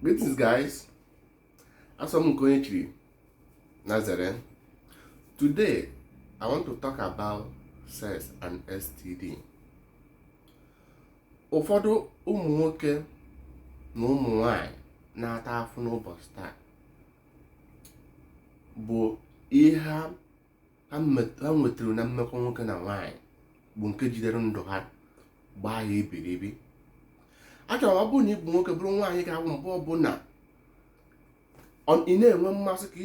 Greetings guys, asọ m nke onye chiri na zere. Today I want to talk about sex and STD. Ụfọdụ ụmụ nwoke na ụmụ nwanyị na-ata afụ n'ụbọchị taa bụ ihe ha ha nwetara na mmekọ nwoke na nwaanyị bụ nke jidere ndụ ha gbaa ya iberibe achọrọ m ọ bụrụ na ị bụ nwoke bụrụ nwaanyị ga-awụ mgbe ọbụla ị na-enwe mmasị ka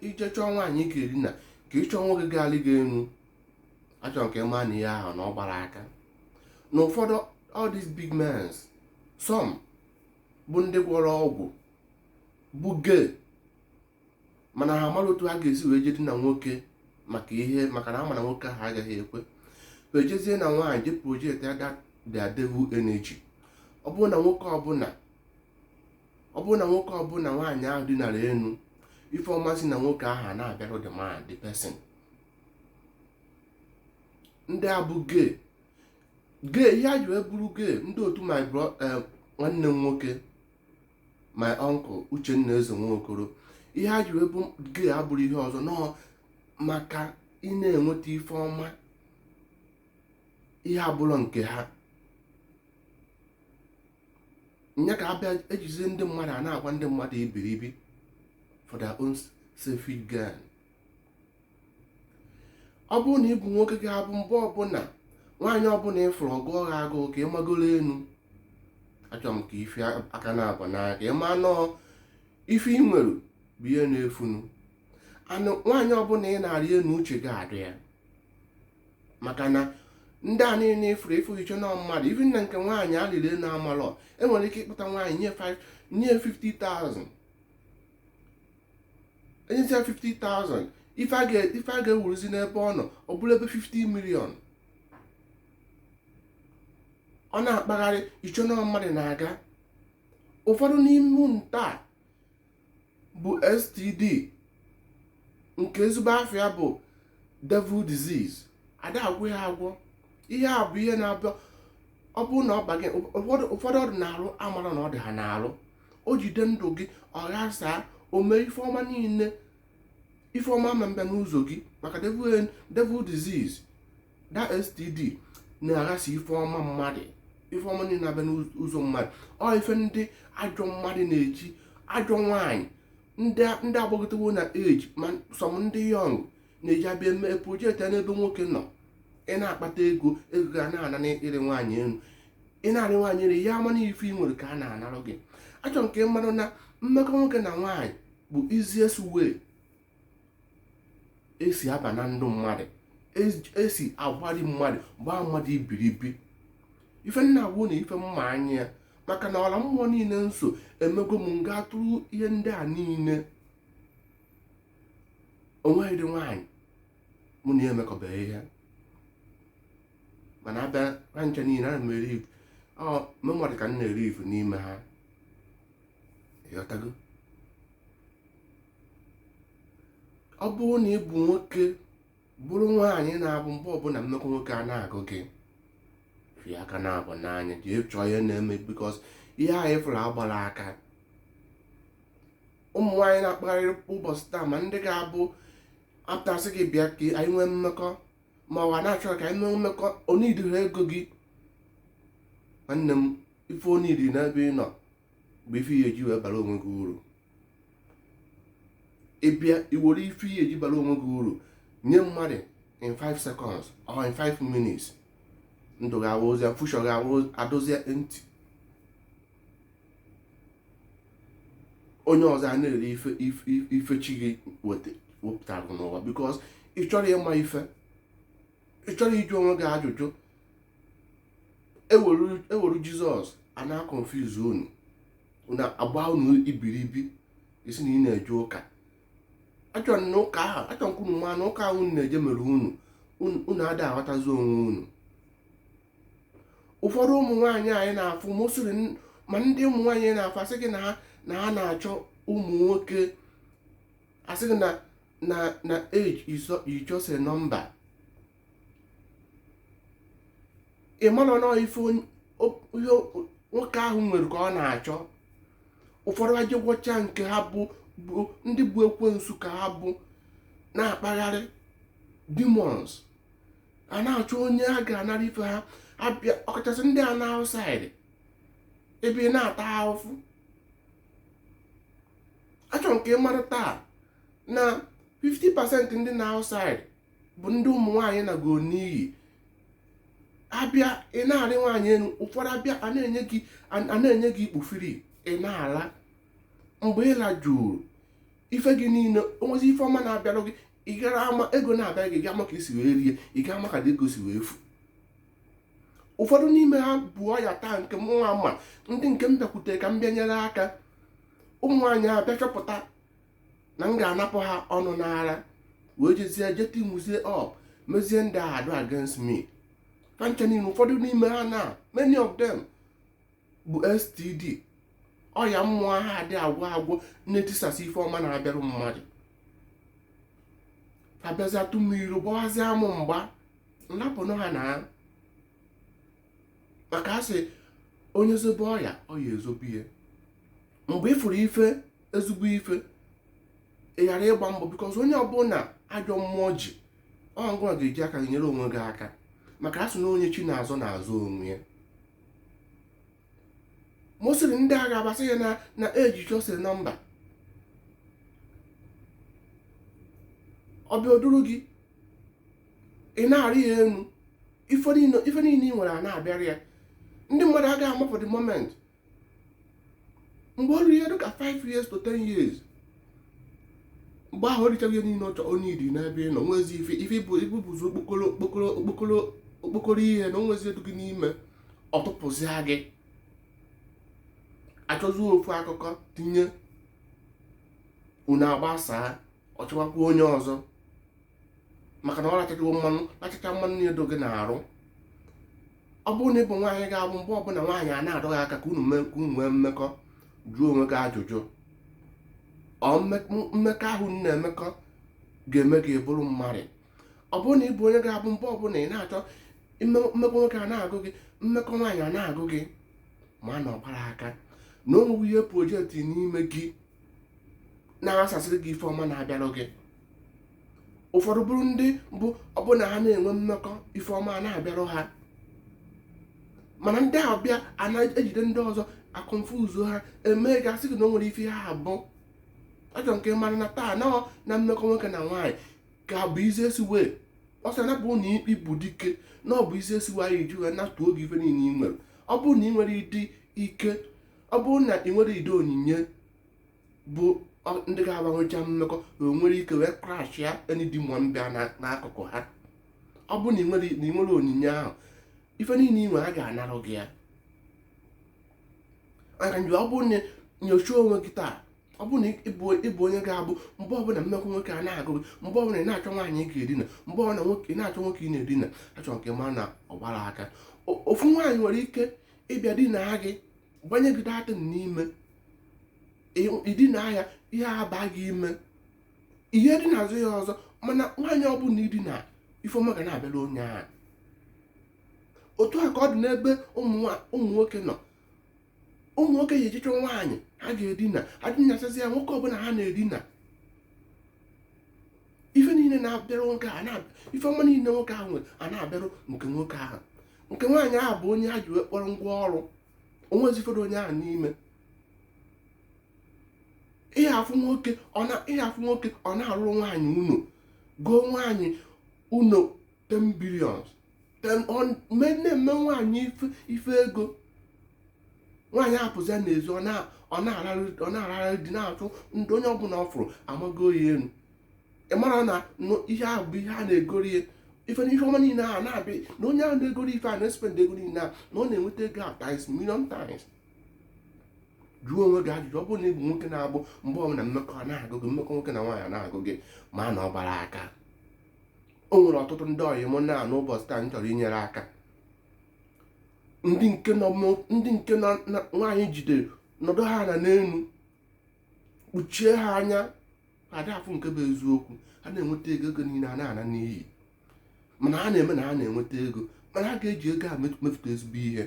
ị je chọọ nwaanyị ị ga-eri na ka ị chọọ nwoke ga-alị gị enu achọrọ m ka ị ma na ihe ahụ na ọ gbarọ aka na ụfọdụ all these big men some bụ ndị gwọrọ ọgwụ bụ gay mana ha amarọ otu ha ga-esi wee je dina nwoke maka ihe maka na ha ma na nwoke ahụ agaghị ekwe wee jezie na nwaanyị je project that their devil energy ọ bụrụ na nwoke ọbụla nwaanyị ahụ dinara enu ife ọma si na nwoke ahụ na-abịarụ the man the person ndị a bụ gay gay ihe ha ji wee bụrụ gay ndị otu nwanne m nwoke my uncle Uchenna Eze Nwokoro ihe ha ji wee bụ gay abụrọ ihe ọzọ na ọ maka ị na-enweta ife ọma ihe abụrọ nke ha nya ka ha bịa ejizie ndị mmadụ a na-agba ndị mmadụ iberibe for their own selfish gain ọ bụrụ na ị bụ nwoke ga-abụ mgbe ọbụla nwaanyị ọbụla ị fụrụ ọ gụọ ha agụụ ka ị magoro enu achọrọ m ka ife aka na-abụ n'anya ka ị ma na ọ ife ị nwere bụ ihe na-efunu and nwaanyị ọbụla ị na-arị enu uche gị adị ya maka na ndị a niile ị fụrụ ị chee na mmadụ even na nke nwaanyị alịrị enu amalọ enwere ike ịkpụta nwaanyị nye 50,000 enyezi ya 50,000 ife a ga-ewuruzi n'ebe ọ nọ ọ bụrụ ebe 50 million ọ na-akpagharị ị chee na ọ mmadụ na-aga ụfọdụ n'ime ndị a bụ std nke ezigbo afa ya bụ devil disease ada agwọ ya agwọ ihe a bụ ihe na-abịa ọ bụrụ na ọ baa ụfọdụ ọ dị n'alụ amarọ na ọ dị ha n'alụ o jide ndụ gị ọ ghasaa o mee ife ọma niile ife ọma na-abịa n'ụzọ gị maka devil disease that std na-aghasa ife ọma mmadụ ife ọma niile na-abịa n'ụzọ mmadụ ọ ife ndị ajọ mmadụ na-eji ajọ nwaanyị ndị gbagotewo na age ma some ndị young na-eji abịa eme project n'ebe nwoke nọ ị na-akpata ego ego ga na-ana n'ịrị nwaanyị elu ị na-arị nwaanyị elu ya ama na ife ị nwere ka a na-anarụ gị achọrọ m ka ị mara na mmekọ nwoke na nwaanyị bụ easiest way esi aba na ndụ mmadụ esi agbari mmadụ gbaa mmadụ ibiribi ife m na-agwa unu ife m ma anya ya maka na ọla mmụọ niile nsọ emego m ghọtara ihe ndị a niile o nweghị ụdị nwaanyị mụ na ya emekọbeghị ihe mana abịa ha ncha niile ana m eri ife ọ mee m ọ dị ka m na-eri ife n'ime ha ịghọtago ọ bụrụ na ị bụ nwoke bụrụ nwaanyị na-abụ mgbe ọbụla mmekọ nwoke a na-agụ gị fie aka naabọ n'anya jee chọọ ihe na-eme because ihe anyị fụrụ agbarọ aka ụmụ nwaanyị na-akpagharị ụbọchị taa ma ndị ga-abụ apụta sị gị bịa ka anyị nwee mmekọ ma ọ na-achọ ka anyị nwee mmekọ ọ needirọ ego gị nwanne m ife ọ need n'ebe ị nọ bụ ife ị ya-eji wee bara onwe gị uru ị bịa ewere ife ị ya-eji bara onwe gị uru nye mmadụ in 5 seconds or in 5 minutes ndụ gị abụrụzia future gị abụrụzie empty onye ọzọ a na-eri ife chi gị wepụtara n'ụwa because ị chọrọ ịma ife ị chọrọ ịjụ onwe gị ajụjụ ewere Jesus a na-aconfuse unu agba unu ibiribi ị sị na ị na-eje ụka achọrọ na ụka ahụ achọrọ m ka unu ma na ụka ahụ unu na-eje mere unu unu ada aghọtazi onwe unu ụfọdụ ụmụ nwaanyị anyị na-afụ mostly ma ndị ụmụ nwaanyị na-afụ asị gị na ha na ha na-achọ ụmụ nwoke asị gị na na na age is just a number ị mara na ife nwoke ahụ nwere ka ọ na-achọ ụfọdụ aje gwọcha nke ha bụ ndị bụ ekwensu ka ha bụ na-akpagharị demons a na-achọ onye a ga-anara ife ha abịa ọkachasị ndị a nọ outside ebe ị na-ata ahụfụ achọrọ m ka ị mara taa na 50% ndị nọ outside bụ ndị ụmụ nwaanyị nago n'iyi abịa ị na-arị nwaanyị elu ụfọdụ abịa a na-enye gị a na-enye gị ikpu free ị na-ala mgbe ị lajuru ife gị niile onwezi ife ọma na-abịarụ gị ị gara ama ego na-abịa gị ga-ama ka i si wee rie ị ga-ama ka ego si wee fu ụfọdụ n'ime ha bụ ọya taa nke mụnwa ma ndị nke m bịakwutere ka m bịa nyere aka ụmụ nwaanyị a bịa chọpụta na m ga-anapụ ha ọnụ n'ara wee jezie je teamuzie up mezie ndị a adụ against me fa ncha niile ụfọdụ n'ime ha na many of them bụ STD ọya mmụọ ahụ adị agwụ agwụ na-etisasị ife ọma na-abịarụ mmadụ fa bịazịa tụ mmiri gbawazịa mụ mgba m rapụnụ ha na maka a sị onye zobe ọya ọya ezobe ya mgbe ị fụrụ ife ezigbo ife ị ghara ịgba mbọ because onye ọbụla ajọ mmụọ ji ọ gịnwa ga-eji aka gị nyere onwe gị aka maka a sị na onye chi na-azọ na-azọ onwe ya mostly ndị agha abasị ya na na eji chọsịrị nọmba ọ bịa o duru gị ị na-arị ya enu ife niile ị nwere a na-abịara ya ndị mmadụ agaghị ama for the moment mgbe o ruru ihe dịka 5 years to 10 years mgbe ahụ o richaa gị ihe niile ọ chọrọ iri n'ebe ị nọ nwezi ife ị bụ bụzi okpokoro ihe na onwezi ihe dụ gị n'ime ọ tụpụzịa gị achọzi ofu akụkọ tinye unu agbasaa ọ chọwakwa onye ọzọ maka na ọ rachachawo mmanụ rachacha mmanụ niile dụ gị n'arụ ọ bụrụ na ị bụ nwaanyị ga-abụ mgbe ọbụla nwaanyị a na-adọ gị aka ka unu nwee mmekọ jụọ onwe gị ajụjụ ọ mmekọ ahụ na-emekọ ga-eme gị bụrụ mmadụ ọ bụrụ na ị bụ onye ga-abụ mgbe ọbụla ị na-achọ mmekọ nwoke a na-agụ gị mmekọ nwaanyị a na-agụ gị ma na ọ gbara aka na o nwere ihe projekti n'ime gị na-asasịrị gị ife ọma na-abịara gị ụfọdụ bụrụ ndị bụ ọbụna ha na-enwe mmekọ ife ọma na-abịarụ ha mana ndị ahụ bịa a na-ejide ndị ọzọ aconfuse ha e mee ga-asị gị na o nwere ife ha bụ achọrọ m ka ị mara na taa na mmekọ nwoke na nwaanyị ka bụ easiest way ọ sị na bụ na ikpe bụ dike na ọ bụ easiest way anyị ji wee napụ gị ife niile ị nwere ọ bụrụ na ị nwere ụdị ike ọ bụrụ na ị nwere ụdị onyinye bụ ndị ga-abụ ha nwecha mmekọ na o nwere ike wee crash ya ihe dị mma bịa n'akụkụ ha ọ bụrụ na ị nwere onyinye ahụ ife niile ị nwere a ga-anarụ gị ya maka nje ọ bụrụ na i nyocha onwe gị taa ọ bụrụ na ị bụ onye ga-abụ mgbe ọbụla mmekọ nwoke a na-agụ gị mgbe ọbụla ị na-achọ nwaanyị ị ga-edina mgbe ọbụla ị na-achọ nwoke ị na-edina achọrọ m ka ị mara na ọ gbara aka ofu nwaanyị nwere ike ịbịa dina gị gbanye gị dirty n'ime i dina ya ihe aba gị ime ihe dị n'azụ ya ọzọ mana nwaanyị ọbụla i dina ife ọma ga na-abịarụ onye ahụ otu a ka ọ dị n'ebe ụmụ nwoke nọ ụmụ nwoke ya ejichọ nwaanyị ha ga-edina ha dinasịa ya nwoke ọbụla ha na-edina ife niile na-abịarụ nwoke a na-abịa ife ọma niile nwoke ahụ nwere a na-abịarụ nke nwoke ahụ nke nwaanyị ahụ bụ onye a ji wee kpọrọ ngwa ọrụ o nwezi ife dụ onye ahụ n'ime ị ya-afụ nwoke ọ na-arụrụ nwaanyị ụnọ gọọ nwaanyị ụnọ 10 billions na-eme nwaanyị ife ego nwaanyị apụzia n'ezi ọ na-ararị dị na-achụ ndị onye ọbụla ọ fụrụ amago ya enu ị mara na ihe ahụ bụ ihe a na-egoro ya ife na ihe ọma niile ahụ na-abịa na onye ahụ na-egoro ife a na-espend ego niile a na ọ na-enweta ego a times million times jụọ onwe gị ajụjụ ọ bụrụ na ị bụ nwoke na-abụ mgbe ọbụla mmekọ na-agụ gị mmekọ nwoke na nwaanyị na-agụ gị ma na ọ gbarọ aka o nwere ọtụtụ ndị ọyị mụ na n'ụbọchị taa m chọrọ inyere aka ndị nke nọ ndị nke na nwaanyị jidere nọdụ ha na n'enu kpuchie ha anya ada afụ nke bụ eziokwu ha na-enweta ego ego niile a na-ana n'iyi mana ha na-eme na ha na-enweta ego mana a ga-eji ego a mefụta ezigbo ihe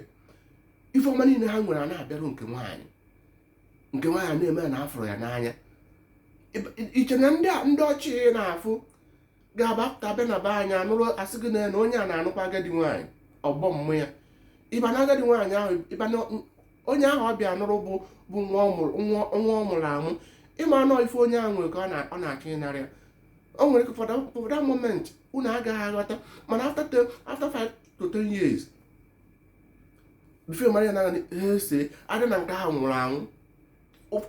ife ọma niile ha nwere a na-abịarụ nke nwaanyị nke nwaanyị na-eme na a fụrụ ya n'anya i che na ndị ọcha ị na-afụ ga-abapụta be na be anyị anụrụ a sị gị na onye a na-anụkwa agadi nwaanyị ọgbọ mum ya ị ma na agadi nwaanyị ahụ ị ma na onye ahụ ọ bịa nụrụ bụ bụ nwa ọ mụrụ- nwa nwa ọ mụrụ amụ ị ma na ọ ife onye ahụ nwere ka ọ na- ọ na-achọ ịnara ya o nwere ike for that- for that moment unu agaghị aghọta mana after ten- after five to ten years before mara ya na ese adị na nke ahụ nwụrụ anwụ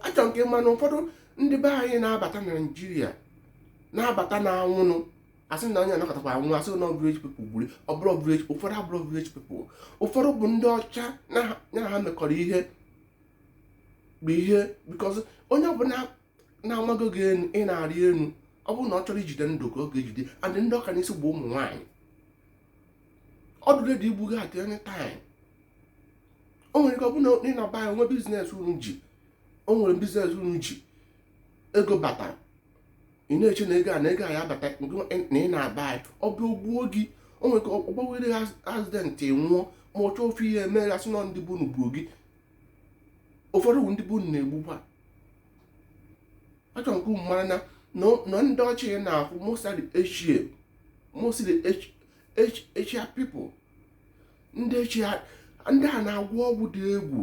achọrọ m ka ị ma na ụfọdụ ndị be anyị na-abata na Nigeria na-abata na anwụnụ asị na onye anakọtakwa anwụ asị na village people gburu ọ bụrọ village ụfọdụ abụrọ village people ụfọdụ bụ ndị ọcha ya na ha mekọrọ ihe bụ ihe because onye ọbụla na-amago gị enu ị na-arị enu ọ bụrụ na ọ chọrọ ijide ndụ ka ọ ga-ejide and ndị ọ ka n'isi bụ ụmụ nwaanyị ọ dụ ready igbu gị at any time o nwere ike ọ bụrụ na ị naba ya o nwe business unu ji o nwere business unu ji ego batara ị na-eche na ego a na ego a ya bata na ị naba ya ọ bụ o gbuo gị o nwere ike ọ gbawere ya accident nwụọ ma ọ chọọ ofu ihe mee a sị na ndị be unu gburu gị ụfọdụ bụ ndị be unu na-egbukwa achọrọ m ka unu mara na na ndị ọcha ị na-afụ mostly Asia mostly Asia people ndị chi ha ndị a na-agwọ ọgwụ dị egwu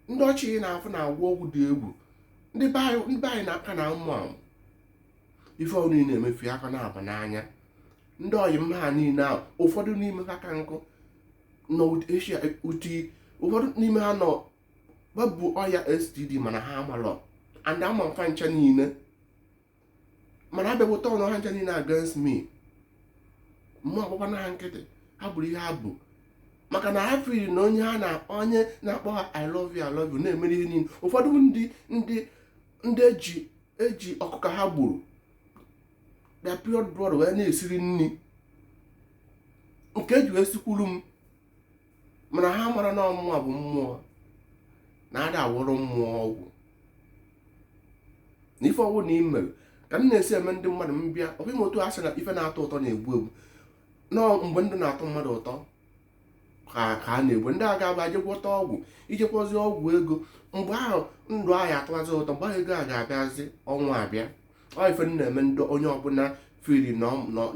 ndị chọọchị ị na-afụ na-agwọ ọgwụ dị egwu ndị be anyị ndị be anyị na-aka na ụmụ amụ ife ọrụ niile emefi aka na-aba n'anya ndị ọyị m ha niile ahụ ụfọdụ n'ime ha ka nkụ nọ eshia uti ụfọdụ n'ime ha nọ babụ ọya std mana ha amalọ and ama m fa ncha niile mana abịakọta ọnụ ha ncha niile against me mụ agbakwa na ha nkịtị ha bụrụ ihe ha bụ maka na ha firi na onye ha na onye na-akpọ ha i love you i love you na-emere ihe niile ụfọdụ ndị ndị ndị eji eji ọkụkọ ha gburu their period blood wee na-esiri nri nke eji wee sikwuru m mana ha mara na mụwa bụ mmụọ na ada agwọrụ mmụọ ọgwụ na ife ọbụna i mere ka m na-esi eme ndị mmadụ m bịa ọ bụghị otu a sị na ife na-atọ ụtọ na-egbu egbu na mgbe ndụ na-atọ mmadụ ụtọ ka ka a na-egbu ndị a ga-agba je gwọta ọgwụ i je gwọzi ọgwụ ego mgbe ahụ ndụ ahụ atọwazi ụtọ mgbe ahụ ego a ga-abịazi ọnwụ abịa ọ ife m na-eme ndị onye ọbụla feel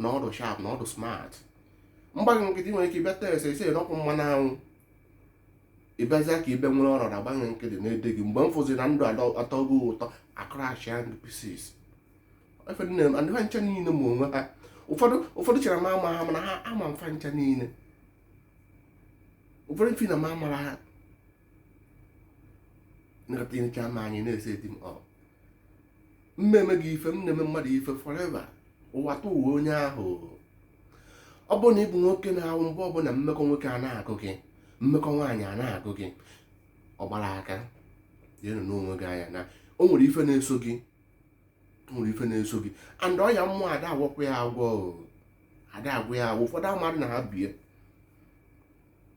na ọ dụ sharp na ọ dụ smart m gba gị nkịtị i nwere ike ịbịa tere eserese n'ọkụ mmanụ anwụ ịbịazịa ka ibe nwere ọrọra m gba gị nkịtị na-ele gị mgbe m fụzi na ndụ atọ gị ụtọ akrashia ndụ pieces ife m na-eme ndị ha ncha niile ma onwe ha ụfọdụ ụfọdụ chere ma ama ha mana ha ama m fa ncha niile ụfọdụ feel na m amarọ ha na-etinyecha m anyị na-ese di m ọ m meme gị ife m na-eme mmadụ ife forever ụwa tụ ụwa onye ahụ ọ bụrụ na ị bụ nwoke na-awụ mgbe ọbụla mmekọ nwoke a na-agụ gị mmekọ nwaanyị a na-agụ gị ọ gbara aka jeenụ nee onwe gị anya na o nwere ife na-eso gị o nwere ife na-eso gị and ọya mmụọ ada agwọkwa ya agwọ ada agwọ ya agwọ ụfọdụ amadị na ha bu ya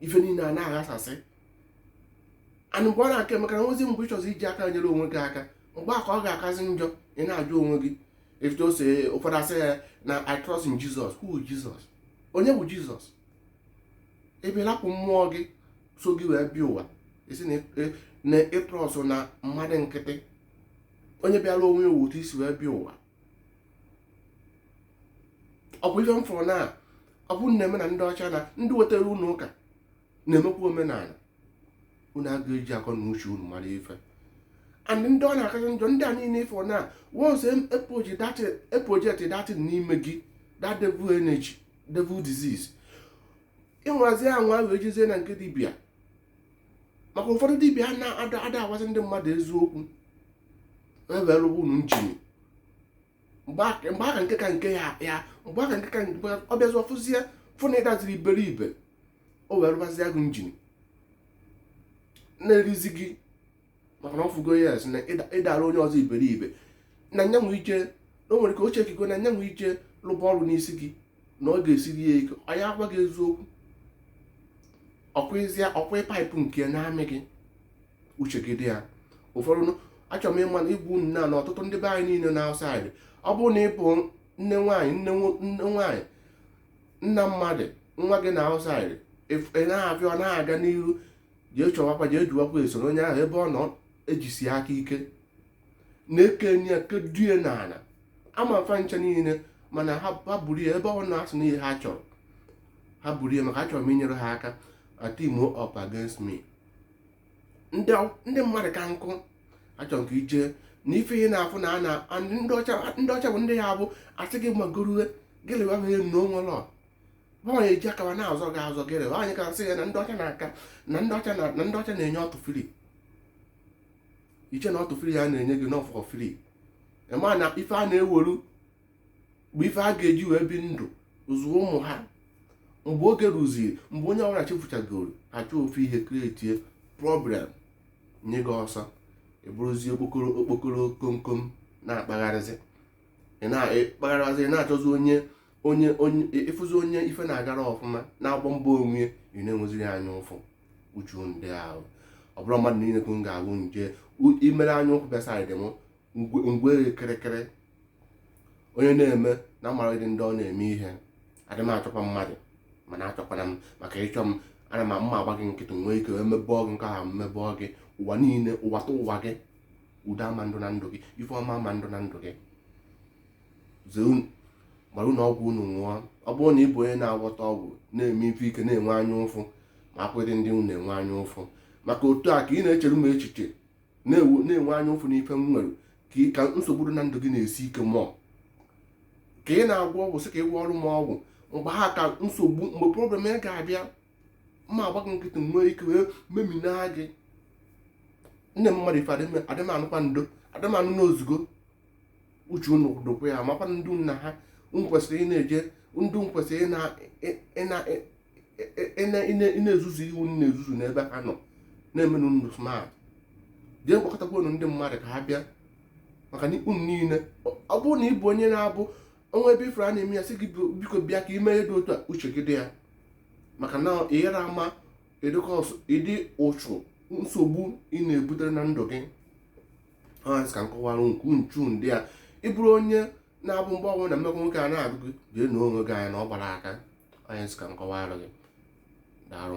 ife niile a na-aghasasị and mgbe ọ na-aka emekara nwezi mgbe ị chọzi iji aka nyere onwe gị aka mgbe a ka ọ ga-akazi njọ ị na-ajụ onwe gị etu o si ụfọdụ asị ya na I trust in Jesus who is Jesus onye bụ Jesus ị bịa lapụ mmụọ gị so gị wee bịa ụwa ị sị na ị trust na mmadụ nkịtị onye bịara onwe ya otu i si wee bịa ụwa ọ bụ ife m fụrụ na ọ bụ nne m na ndị ọcha na ndị wetara unu ụka na-emekwa omenala unu aga eji akọ na uche unu mara ife and ndị ọ na-akazi njọ ndị a niile ị fụ na once e project that thing n'ime gị that devil energy devil disease ị nwazi anwa wee jezie na nke dibịa maka ụfọdụ dibịa na-ada agwazi ndị mmadụ eziokwu ewee lụba unu njin mgbe aka nke ka nke ya ya mgbe aka nke ka nke ọ bịazi ọ fụzie fụ na ị daziri iberibe o wee rụbazie gị njin na-erizi gị maka na ọ fụgo yes na ị dara onye ọzọ iberibe na nya nwee ike o nwere ka o chekigo na nya nwee ike lụba ọrụ n'isi gị na ọ ga-esiri ya ike ọ ya agwa gị eziokwu ọkwa pipe nke na-amị gị uche gị dị ya ụfọdụ achọrọ m ịma na ịgwa unu na na ọtụtụ ndị be anyị niile nọ outside ọ bụrụ na ị bụ nne nwaanyị nna mmadụ nwa gị na outside ị na-abịa ọ na-aga n'iru jee chọwakwa jee juwakwa esoro onye ahụ ebe ọ nọ ejisi aka ike na-ekenye ya kedue n'ala ama m fa ncha niile mana ha buru ya ebe ọ na-asụ n'ihe ha chọrọ ha buru ya maka achọrọ m inyere ha aka a team up against me ndị mmadụ ka nkụ achọrọ ka ije na ife ihe na-afụ na a na ndị ọcha bụ ndị ya bụ a sị gị magoro gịlịwa ha enu onwe lọọ nwaanyị eji akawa na-azọ gị azọ gị rewe anyị ka nsị ya na ndị ọcha na-aka na ndị ọcha na-enye ọtụ free i che na ọtụ free a na-enye gị na ọ for free ị ma na ife a na-eweru bụ ife a ga-eji wee bi ndụ zụọ ụmụ ha mgbe oge ruziri mgbe onye ọbụla chefuchagoro ha chọọ ihe create problem nye gị ọsọ ị bụrụzie okpokoro komkom na-akpagharịzi ị na-akpagharịzi na-achọzi onye onye onye ị fụzi onye ife na-agara ọfụma na-agba mbọ onwe ị na-enweziri anya ụfụ uchu ndị ahụ ọ bụrụ mmadụ niile ka m ga-agwụ nje imere anya ụfụ bịa side m m gwee kịrịkịrị onye na-eme na amarịdị ndị ọ na-eme ihe adị m achọkwa mmadụ mana achọkwana m maka ị chọọ m ana m m ma agba gị nkịtị nwee ike wee mebọọ gị nke ahụ m mebọọ gị ụwa niile ụwa tụ ụwa gị udo ama adị na ndụ gị ife ọma ama adị na ndụ gị zee unu gbara unu ọgwụ unu ṅụọ ọ bụrụ na ị bụ onye na-agwọta ọgwụ na-eme ife ị ka na-enwe anya ụfụ ma akwụdị ndị unu na-enwe anya ụfụ maka otu a ka ị na-echere m echiche na-enwe anya ụfụ n'ife m nwere ka nsogbu na ndụ gị na-esi ike mụọ ka ị na-agwọ ọgwụ sị ka ị gwọọrọ m ọgwụ mgbe ahụ ka nsogbu mgbe problem gị ga-abịa m ma agba gị nkịtị nwee ike wee memina gị nne mmadụ ife adị mma nụkwa ndo adị mma nụ na o zugo uche unu dokwa ya makwa ndị nna ha m kwesịrị ị na-eje ndị m kwesịrị ị na-ezuzu iwu m na-ezuzu n'ebe ha nọ na-emenụ ndụ smart jee gbakọtakwa unu ndị mmadụ ka ha bịa maka na unu niile ọ bụrụ na ị bụ onye na-abụ o nwee ebe ifere a na-eme ya sị gị biko bịa ka ime ihe dị otu a uche gị dị ya maka na ị yara ama ụdị ụchụ nsogbu ị na-ebutere na ndụ gị ọ ha m sị ka m kọwara nke ụchụ ndị a ị bụrụ onye na-abụ mgbe ọbụla mmekọ nwoke a na-agụ gị jee nee onwe gị anya na ọ gbara aka ọ ha m sị ka m kọwara gị daarụ